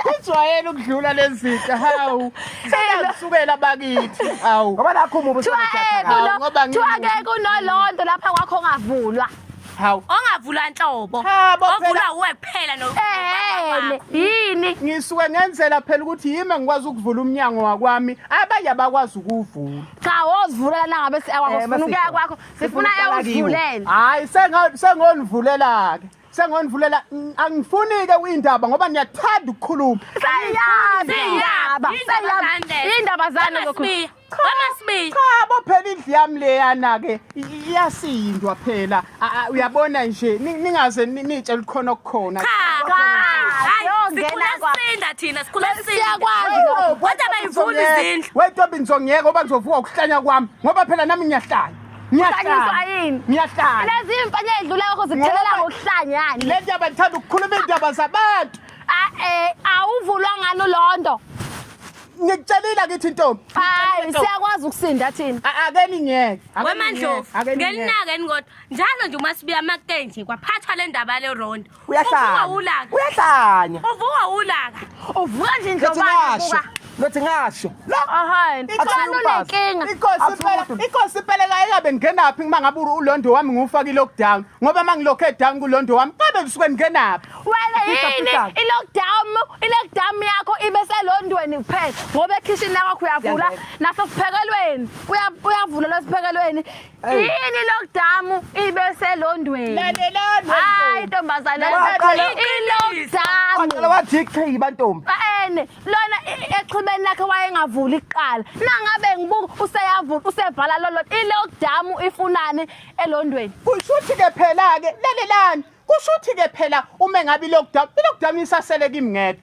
Kujwayele ukudlula lezitha hawu. Sekusuka bakithi. Hawu. Ngoba nakho umubi usebenza. Ngoba ngithi akekho unolondo lapha kwakho ngavulwa. Hawu. Ongavula nhlobo. Ovula uwe kuphela no. Eh, yini? Ngisuke ngenzela phela ukuthi yimi ngikwazi ukuvula umnyango wakwami, abanye abakwazi ukuvula. Cha, wozivulela nangabe siyakwakho, eh, sifuna ukuya kwakho, sifuna ewuzivulela. Hayi, senga sengonivulela ke. sengondivulela angifunike uyindaba ngoba niyathanda ukukhuluma seyaba indaba zani lokhu cha bo phela indlu yami leyana ke iyasindwa phela uyabona nje ningaze nitshe likhona okukhona siyakwazi thina sikhula siyakwazi kodwa bayivula izindlu wetobinzongiyeka oba ngizovuka ukuhlanya kwami ngoba phela nami ngiyahlanya Ngiyahlanya. yini? Ngiyahlanya. Lezi imfana edlula yakho zikuthelela Ngoba- ngokuhlanyana. Le ndaba ngithanda ukukhuluma iy'ndaba zabantu. Ah eh awuvulwa ngani ulondo. Ngikutshelile akithi ntombi. Hayi siyakwazi ukusinda thina. A- Ake ningeke. Ake wemandlovu ningeke, ake ningeke. ngelinake ni kodwa njalo nje uma sibuya amakutenje kwaphathwa le ndaba lerondo uyahlanya ulaka. uyahlanya Uvuka ulaka. Uvuka nje Lothi indlobane ngasho buka. lothi ngasho la Ahani. Akusiyo Ubani umfazi. unenkinga? Inkosi Athi impela umuntu. inkosi impela kayekabe ngingenaphi uma ngabe uru- ulondo wami ngiwufake i-lockdown ngoba uma ngilokhe down kulondo wami kabe ngisuke ngingenaphi Wena Pita, yini pita. i-lockdown i-lockdown yakho ibe selondweni kuphela ngoba ekhishini lakwakho uyavula Yangena. nasesiphekelweni uya- uyavula lwesiphekelweni yini lockdown ibeselondweni lalelani hayi ntombazana ilockdown wathi ichiyi bantombi ene lona exhibeni lakhe wayengavuli kuqala nangabe ngibuka useyavula usevala lolo ilockdown ifunani elondweni kushuthi ke phela ke lalelani kushuthi ke phela uma ngabe ilockdown ilockdown isasele kimi ngedwa